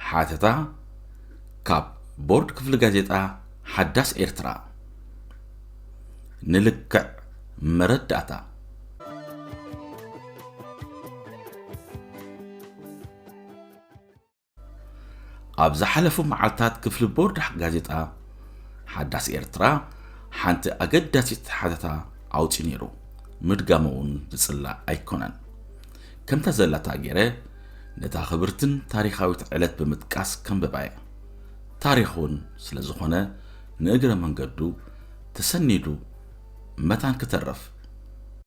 ሓተታ ካብ ቦርድ ክፍሊ ጋዜጣ ሓዳስ ኤርትራ ንልክዕ መረዳእታ ኣብ ዝሓለፉ መዓልታት ክፍሊ ቦርድ ጋዜጣ ሓዳስ ኤርትራ ሓንቲ ኣገዳሲት ሓተታ ኣውፅኡ ነይሩ ምድጋሙ እውን ዝፅላእ ኣይኮነን ከምታ ዘላታ ገይረ ነታ ክብርትን ታሪኻዊት ዕለት ብምጥቃስ ከንብባየ ታሪኹን ስለ ዝኾነ ንእግረ መንገዱ ተሰኒዱ መታን ክተርፍ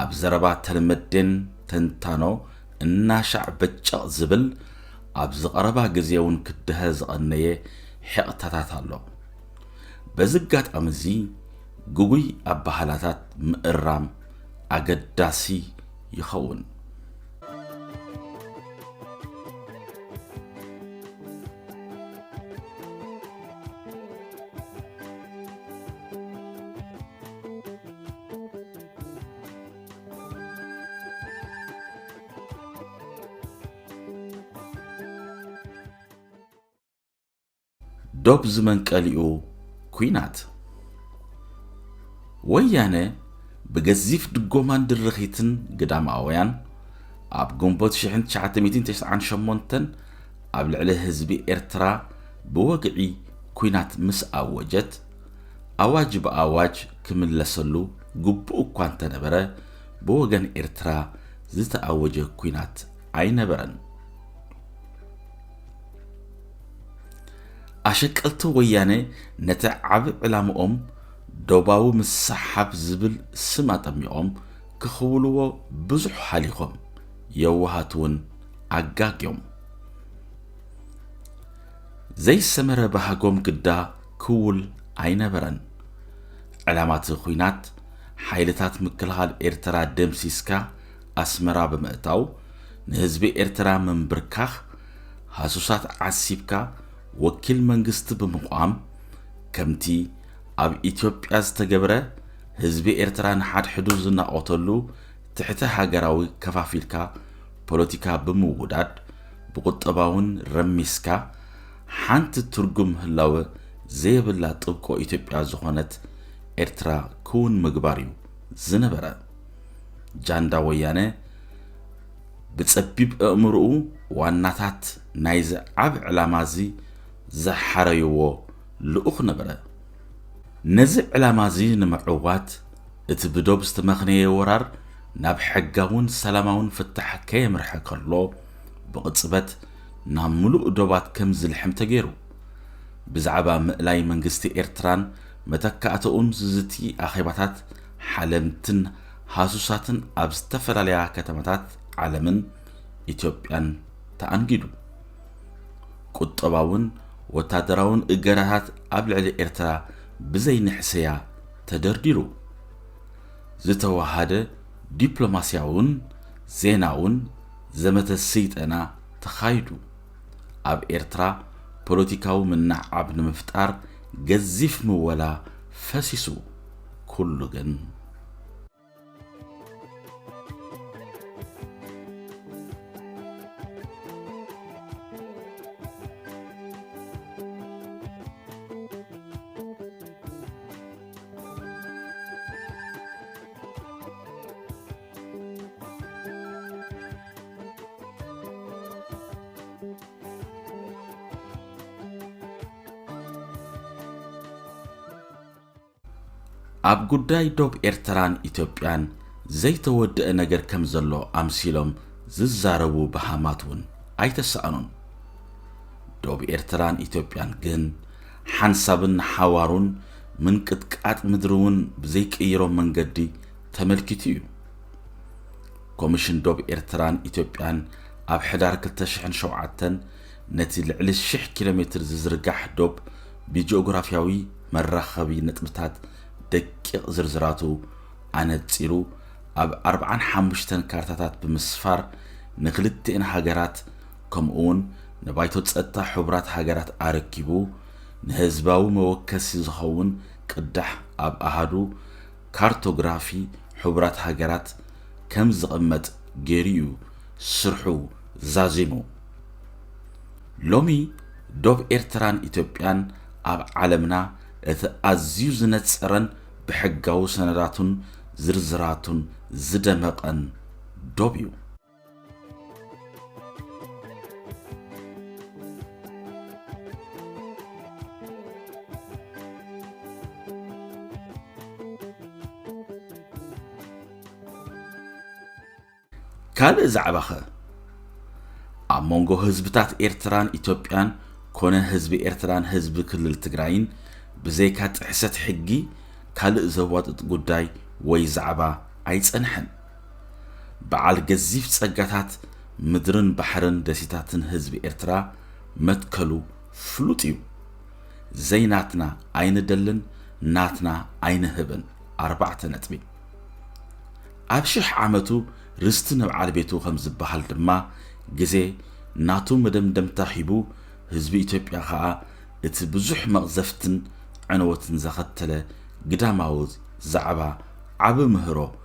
ኣብ ዘረባ ተልመዴን ተንታኖ እናሻዕ በጨቕ ዝብል ኣብ ዝቐረባ ግዜ እውን ክደሀ ዝቐነየ ሒቕታታት ኣሎ። በዚ ኣጋጣሚ እዚ ግጉይ ኣባህላታት ምእራም ኣገዳሲ ይኸውን። ዶብ ዝመንቀሊኡ ኩናት ወያነ ብገዚፍ ድጎማን ድርኺትን ግዳማውያን ኣብ ግንቦት 1998 ኣብ ልዕሊ ህዝቢ ኤርትራ ብወግዒ ኩናት ምስ ኣወጀት ኣዋጅ ብኣዋጅ ክምለሰሉ ግቡእ እኳ እንተነበረ ብወገን ኤርትራ ዝተኣወጀ ኲናት ኣይነበረን። ኣሸቀልቲ ወያነ ነቲ ዓቢ ዕላምኦም ዶባዊ ምስሓብ ዝብል ስም ኣጠሚቖም ክኽውልዎ ብዙሕ ሃሊኾም፣ የዋሃት እውን ኣጋግዮም ዘይሰመረ ባህጎም ግዳ ክውል ኣይነበረን። ዕላማ'ቲ ኹናት፣ ሓይልታት ምክልኻል ኤርትራ ደምሲስካ ኣስመራ ብምእታው፣ ንህዝቢ ኤርትራ ምምብርካኽ፣ ሃሱሳት ዓሲብካ ወኪል መንግስቲ ብምቛም፣ ከም'ቲ ኣብ ኢትዮጵያ ዝተገብረ፣ ህዝቢ ኤርትራ ንሓድሕዱ ዝናቖተሉ ትሕተ ሃገራዊ ከፋፊልካ ፖለቲካ ብምውዳድ፣ ብቑጠባ'ውን ረሚስካ፣ ሓንቲ ትርጉም ህላወ ዘየብላ ጥብቆ ኢትዮጵያ ዝኾነት ኤርትራ ክውን ምግባር እዩ ዝነበረ። ጃንዳ ወያነ ብጸቢብ ኣእምሮኡ ዋናታት ናይዚ ዓቢ ዕላማ እዚ ዝሓረይዎ ልኡኽ ነበረ። ነዚ ዕላማ እዚ ንምዕዋት እቲ ብዶብ ዝተመኽነየ ወራር ናብ ሕጋውን ሰላማውን ፍታሕ ከየምርሐ ከሎ ብቕጽበት ናብ ምሉእ ዶባት ከም ዝልሕም ተገይሩ። ብዛዕባ ምእላይ መንግስቲ ኤርትራን መተካእታኡን ዝዝቲ ኣኼባታት ሓለምትን ሃሱሳትን ኣብ ዝተፈላለያ ከተማታት ዓለምን ኢትዮጵያን ተኣንጊዱ። ቁጠባውን ወታደራውን እገዳታት ኣብ ልዕሊ ኤርትራ ብዘይ ንሕስያ ተደርዲሩ። ዝተወሃደ ዲፕሎማስያውን ዜናውን ዘመተ ስይጠና ተኻይዱ። ኣብ ኤርትራ ፖለቲካዊ ምንዕዓብ ንምፍጣር ገዚፍ ምወላ ፈሲሱ። ኩሉ ግን። ኣብ ጉዳይ ዶብ ኤርትራን ኢትዮጵያን ዘይተወድአ ነገር ከም ዘሎ ኣምሲሎም ዝዛረቡ በሃማት እውን ኣይተሳእኑን ዶብ ኤርትራን ኢትዮጵያን ግን ሓንሳብን ሓዋሩን ምንቅጥቃጥ ምድሪ እውን ብዘይቅይሮ መንገዲ ተመልኪቱ እዩ። ኮሚሽን ዶብ ኤርትራን ኢትዮጵያን ኣብ ሕዳር 2007 ነቲ ልዕሊ ሽሕ ኪሎ ሜትር ዝዝርጋሕ ዶብ ብጂኦግራፍያዊ መራኸቢ ነጥብታት ደቂቕ ዝርዝራቱ ኣነጺሩ ኣብ ኣርብዓን ሓሙሽተን ካርታታት ብምስፋር ንክልቲኤን ሃገራት ከምኡውን ንባይቶ ጸጥታ ሕቡራት ሃገራት ኣረኪቡ ንህዝባዊ መወከሲ ዝኸውን ቅዳሕ ኣብ ኣሃዱ ካርቶግራፊ ሕቡራት ሃገራት ከም ዝቕመጥ ገይሩ'ዩ ስርሑ ዛዚሙ። ሎሚ ዶብ ኤርትራን ኢትዮጵያን ኣብ ዓለምና እቲ ኣዝዩ ዝነጸረን ብሕጋዊ ሰነዳቱን ዝርዝራቱን ዝደመቐን ዶብ'ዩ። ካልእ ዛዕባኸ ኣብ መንጎ ህዝብታት ኤርትራን ኢትዮጵያን ኮነ ህዝቢ ኤርትራን ህዝቢ ክልል ትግራይን ብዘይካ ጥሕሰት ሕጊ ካልእ ዘዋጥጥ ጉዳይ ወይ ዛዕባ ኣይጸንሐን በዓል ገዚፍ ጸጋታት ምድርን ባሕርን ደሴታትን ህዝቢ ኤርትራ መትከሉ ፍሉጥ እዩ። ዘይናትና ኣይንደልን ናትና ኣይንህብን ኣርባዕተ ነጥቢ። ኣብ ሽሕ ዓመቱ ርስቲ ንብዓል ቤቱ ከም ዝበሃል ድማ ግዜ ናቱ መደምደምታ ሂቡ ህዝቢ ኢትዮጵያ ከኣ እቲ ብዙሕ መቕዘፍትን ዕንወትን ዘኸተለ ግዳማዊ ዛዕባ ዓቢ ምህሮ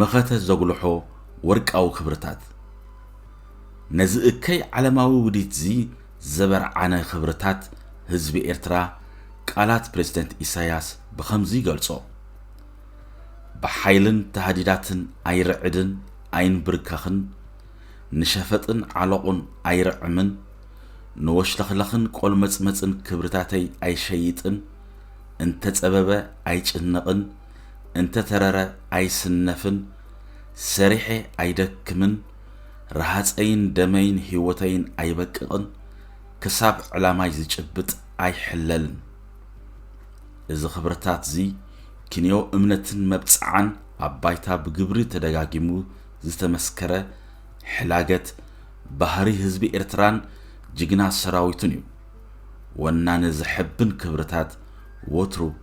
መኸተ ዘጉልሖ ወርቃዊ ክብርታት። ነዚ እከይ ዓለማዊ ውዲትዚ ዘበርዓነ ክብርታት ህዝቢ ኤርትራ ቃላት ፕረዚደንት ኢሳያስ ብኸምዚ ይገልጾ፣ ብሓይልን ታህዲዳትን ኣይርዕድን ኣይንብርከኽን፣ ንሸፈጥን ዓሎቑን ኣይርዕምን፣ ንወሽለኽለኽን ቆልመጽመጽን ክብርታተይ ኣይሸይጥን፣ እንተጸበበ ኣይጭነቕን፣ እንተተረረ ኣይስነፍን ሰሪሐ ኣይደክምን ረሃፀይን ደመይን ሂወተይን ኣይበቅቕን ክሳብ ዕላማይ ዝጭብጥ ኣይሕለልን እዚ ክብርታት እዚ ክንዮ እምነትን መብፅዓን ኣብ ባይታ ብግብሪ ተደጋጊሙ ዝተመስከረ ሕላገት ባህሪ ህዝቢ ኤርትራን ጅግና ሰራዊቱን እዩ ወናኒ ዘሐብን ክብርታት ወትሩ